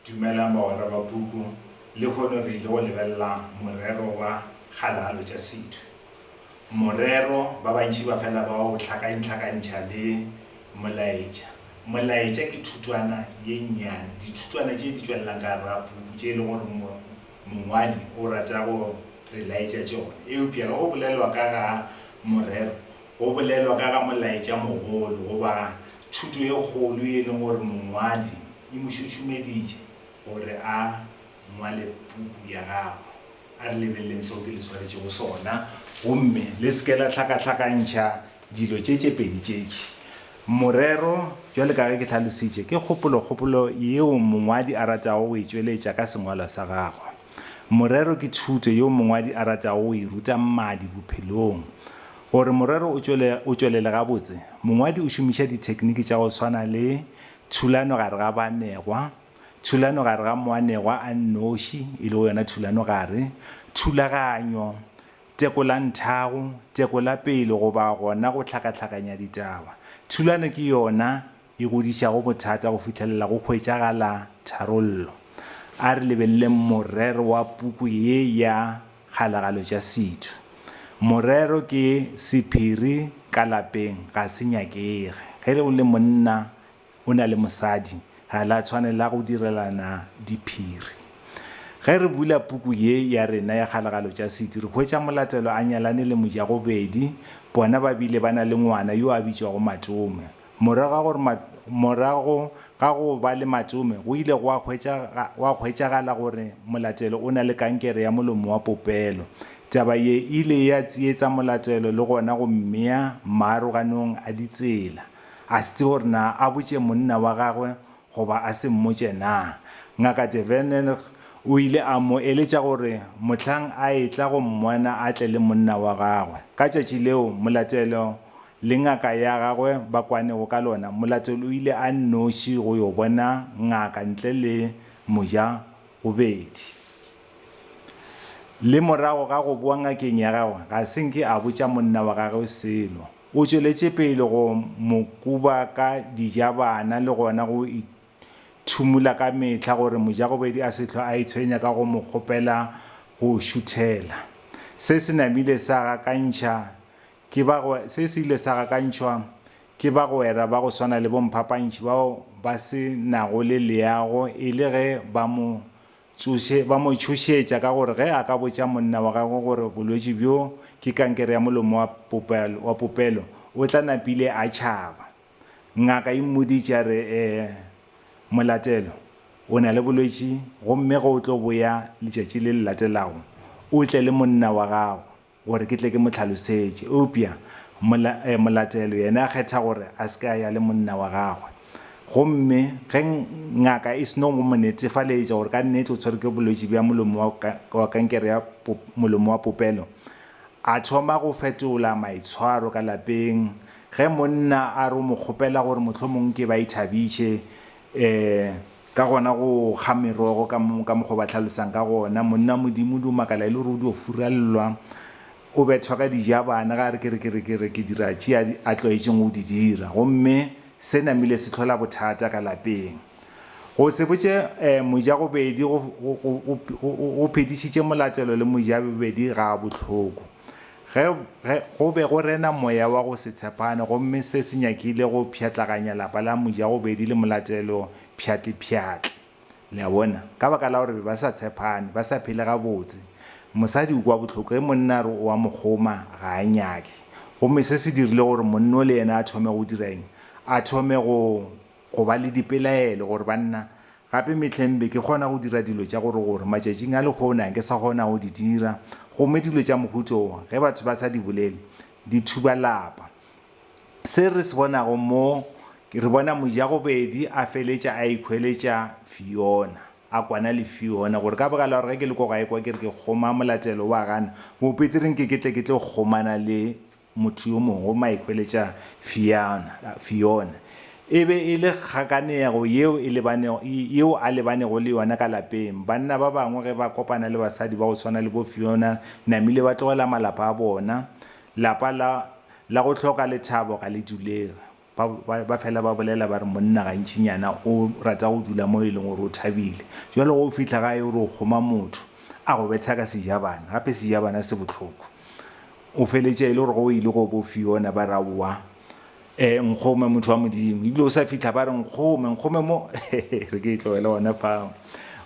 Dumelang bagwera ba puku, lehono re ile go lebelela morero wa Kgalalo tša Setho. Morero, ba bantši ba fela ba o hlakainhlakantšha le Molaetša. Molaetša ke thutwana ye nnyane, dithutwana tše di tšwelelang ka gare ga puku tše e le gore mongwadi o rata go re laetša tšona. Eupša ge go bolelwa ka ga morero, go bolelwa ka ga molaetša mogolo goba thuto e kgolo ye e leng gore mongwadi E mo šušumeditše gore a ngwale puku ya gagwe. A re lebeleleng seo ke le swaretšego sona gomme le se ke la hlakahlakantšha dilo tše tše pedi tšekhwi. Morero, bjale ka ge ke hlalositše, ke kgopolokgopolo yeo mongwadi a ratago go e tšweletša ka sengwalwa sa gagwe. Morero ke thuto yeo mongwadi a ratago go e ruta mmadi bophelong. Gore morero o tšwelele gabotse, mongwadi o šomiša dithekniki tša go swana le Thulano gare ga baanegwa, Thulano gare ga moanegwa a nnoši, e lego yona thulano gare, Thulaganyo, Tekolanthago, Tekolapele goba gona go hlakahlakanya ditaba. Thulano ke yona e godišago bothata go fihlelela go hwetšagala tharollo. A re lebeleleng morero wa puku ye ya Kgalagalo tša setho. Morero ke sephiri ka lapeng ga se nyakege. Ge le o le monna o na le mosadi ga la tshwanela go direlana diphiri. Ge re bula puku ye ya rena ya Kgalagalo tša setho re hwetša Molatelo a nyalane le Mojagobedi, bona ba bile ba na le ngwana yo a bitšwago Matome. Morago ga go ba le matšome, go ile gwa hwetšagala gore Molatelo o na le kankere ya molomo wa popelo. Taba ye e ile ya tsietsa Molatelo le gona go mmea maaroganong a ditsela. A se tsebe gore na a botše monna wa gagwe goba a se mmotše na. Ngaka De Vernenr o ile a mo eletša gore mohlang a etla go mmona a tle le monna wa gagwe. Ka tšatši leo Molatelo le ngaka ya gagwe ba kwanego ka lona, Molatelo o ile a nnoši go yo bona ngaka ntle le moja-gobedi. Le morago ga go boa ngakeng ya gagwe, ga se nke a botša monna wa gagwe selo. O tšweletše pele go mo kuba ka dijabana le gona go ithumola ka mehla gore moja-gobedi a se hlwe a itshwenya ka go mo kgopela go šuthela. Se se namile sa gakantšha Ke ba go, se se ile sa gakantšhwa ke bagwera ba go swana le bomphapantšhi bao ba se nago le leago e le ge ba mo tsoše, ba mo tšhošetša ka gore ge a ka botša monna wa gagwe gore bolwetši bjo ke kankere ya molomo wa popelo, wa popelo, o tla napile a tšhaba. Ngaka e mmoditše a re, E, Molatelo, o na le bolwetši, gomme ge o tlo boya letšatši le le latelago, o tle le monna wa gago, gore ke tle ke mo tlhalosetše. Eupša mola, eh, molatelo yena a kgetha gore a se ke a ya le monna wa gagwe. Gomme ge ngaka e seno go mo netefaletša gore ka nnete o tshwerwe ke bolwetši bja molomo wa, wa kankere ya pop, molomo wa popelo, a thoma go fetola maitshwaro ka lapeng. Ge monna a re o mo kgopela gore mohlomong ke ba ithabiše, eh, Ka gona go kga merogo ka ka mokgwa o ba hlalosang ka gona, monna wa Modimo o dio makala e le gore o dio furallwa, o bethwa ka dijabana ge a re ke re ke re ke re ke dira tše a a tlwaetšeng go di dira. Gomme se namile se hlola bothata ka lapeng. Go se botše um mojagobedi go go go go go phedišitše molatelo le mojabobedi ga a bohloko. Ge, ge, go be go rena moya wa go se tshepane, gomme se se nyakile go pšhatlaganya lapa la mojagobedi le molatelo pšhatlipšhatli. Le a bona? Ka baka la gore be ba sa tshepane, ba sa phele gabotse. Mosadi o kwa bohloko ge monna a re o a mo kgoma, ga a nyake. Gomme se se dirile gore monno le yena a thome go dira eng? A thome go, go ba le dipelaelo, gore banna, Gape mehleng be ke kgona go dira dilo tša gore gore matšatšing a lehono ke sa kgona go di dira, gomme dilo tša mohuta wo, ge batho ba sa di bolele, di thuba lapa. Se re se bonago mo, re bona Mojagobedi a feletša a ikhweletša Fiona, a kwana le Fiona, gore ka baka la gore ge ke le ko gae kwa ke re ke kgoma molatelo wa gana, Bopeteri nke ke tle ke tlo kgomana le Motho yo mongwe o maihweletša Fiona, Fiona, e be e le kgakanego yeo e lebanego, yeo a lebanego le yona ka lapeng. Banna ba bangwe ge ba kopana le basadi ba go swana le bo Fiona namile ba tlogela malapa a bona. Lapa la, la go hloka lethabo ga le dulege. Ba, ba, ba fela ba bolela ba re, Monna gantšinyana o rata go dula mo e leng gore o thabile. Bjalo ge o fihla gae o re o kgoma motho, a go betha ka sejabana, gape sejabana se bohloko. O feletša e le gore ge o ile go bo Fiona ba re, Aowa, e, nkgome, motho wa Modimo. Ebile o sa fihla ba re, Nkgome, nkgome mo, re ke e tlogele gona fao.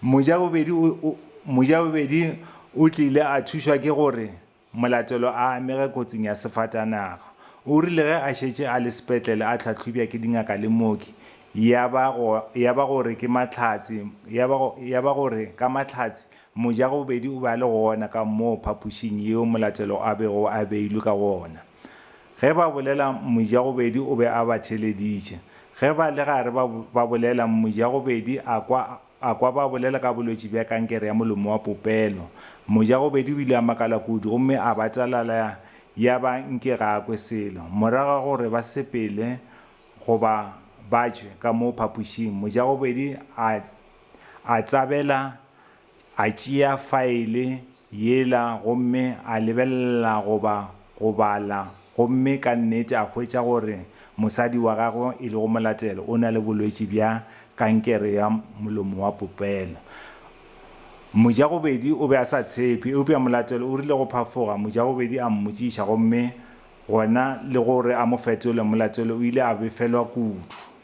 Mojabobedi o, o, mojabobedi o tlile a thušwa ke gore, Molatelo a amege kotsing ya sefatanaga. O rile ge a šetše a le sepetlele a hlahlobja ke dingaka le mooki, ya ba ya ba gore ke mahlatse, ya ba ya ba gore ka mahlatse moja go bobedi o be a le gona ka moo phapošing yeo Molatelo a bego a beilwe ka gona. Ge ba bolela moja go bedi o be a ba theleditše. Ge ba le gare ba ba bolela moja go bedi a kwa A kwa ba bolela ka bolwetši bja kankere ya molomo wa popelo. Mojagobedi o ile a makala kudu gomme a batalala ya ba nke ga a kwe selo. Morago ga gore ba sepele goba ba tšwe ka mo phapošing, Mojagobedi a a tsabela a tšea faele Yela gomme a lebelela goba go bala gomme ka nnete a hwetša gore mosadi wa gagwe e lego molatelo o na le bolwetši bja kankere ya molomo wa popelo. Mojagobedi o be a sa tshepe, eupša molatelo o rile go phafoga, mojagobedi a mmotšiša gomme gona le gore a mo fetole, molatelo o ile a befelwa kudu.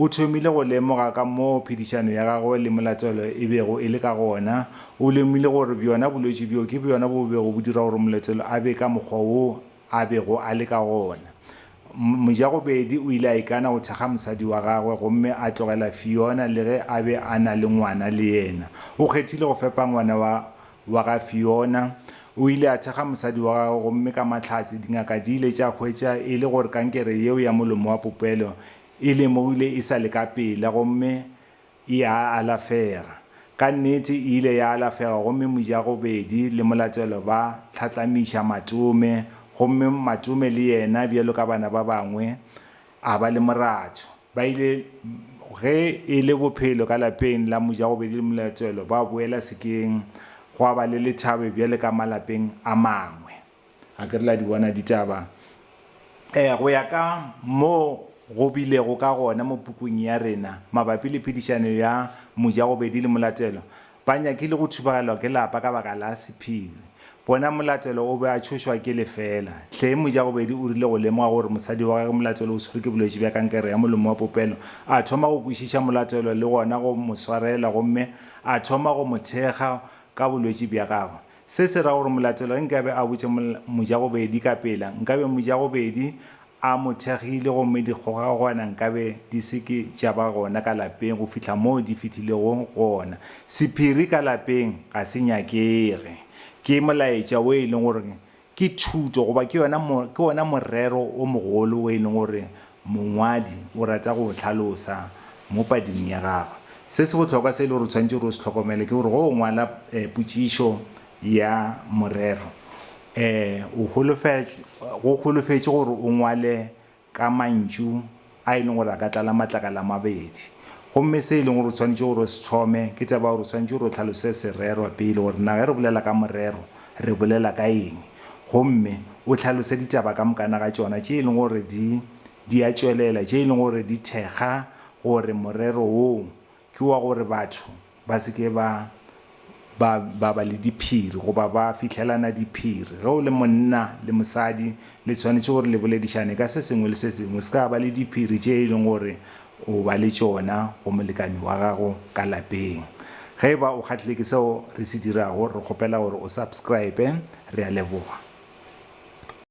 O thomile go lemoga ka moo phedišano ya gagwe le Molatelo e bego e le ka gona. O lemogile gore bjona bolwetši bjo ke bjona bo bego bo dira gore Molatelo a be ka mokgwa wo a bego a le ka gona. Mojagobedi o ile a ikana go thekga mosadi wa gagwe gomme a tlogela Fiona le ge a be a na le ngwana le yena. O kgethile go fepa ngwana wa wa ga Fiona. O ile a thekga mosadi wa gagwe gomme ka mahlatse dingaka di ile tša hwetša e le gore kankere yeo ya molomo wa popelo E lemohile e sa le ka pela gomme e a alafega. Ka nnete e ile ya alafega gomme Mojagobedi le Molatelo ba hlatlamiša Matome gomme Matome le yena bjalo ka bana ba bangwe a ba le moratho. Ba ile ge e le bophelo ka lapeng la Mojagobedi le Molatelo ba boela sekeng gwa ba le lethabe bjale ka malapeng a mangwe. A ke re le a di bona ditaba? Ee, go ya ka moo go bilego ka gona mo pukung ya rena mabapi le phedišano ya mojagobedi le molatelo, ba nyakile go thubagelwa ke lapa ka baka la sephiri. Bona molatelo o be a tšhošwa ke lefeela. Hleng mojagobedi o rile go lemoga gore mosadi wa gagwe molatelo o swerwe ke bolwetši bja kankere ya molomo wa popelo, a thoma go kwešiša molatelo le gona go mo swarela gomme a thoma go mo thekga ka bolwetši bja gagwe. Se se ra gore molatelo ge nkabe a botša mojagobedi ka pela, nkabe mojagobedi a mo thekgile gomme dikgogakgogwana nkabe di se ke tša ba gona ka lapeng go fihla moo di fihlilego gona. Sephiri ka lapeng ga se nyakege. Ke molaetša wo e leng gore ke thuto goba ke wona morero wo mogolo wo e leng gore Mongwadi o rata go o hlalosa mo pading ya gagwe. Se se bohlokwa se e le gore o tshwanetse gore o se hlokomele ke gore ge o ngwala potšišo ya morero, o go holofetše gore o ngwale ka mantšu a e leng gore a ka tlala matlakala a mabedi. Gomme se e leng gore o tshwanetse gore o se thome ke taba ya gore o tshwanetse gore o hlalose se rerwa pele gore na ge re bolela ka morero, re bolela ka eng, gomme o hlalose ditaba ka mokana ga tšona tše e lego gore di, di a tšwelela, tše e lego gore di thekga gore morero wo ke wa gore batho ba se ke ba, ba, ba ba le diphiri goba ba fihlelana diphiri. Ge o le monna le mosadi, le swanetše gore le boledišane ka se sengwe le se sengwe. Se ka ba le diphiri tše e lego gore O ba le tšona go molekane wa gago ka lapeng. Ge e ba o kgahlile ke seo re se dirago, re kgopela gore o subscribe. Re a leboga.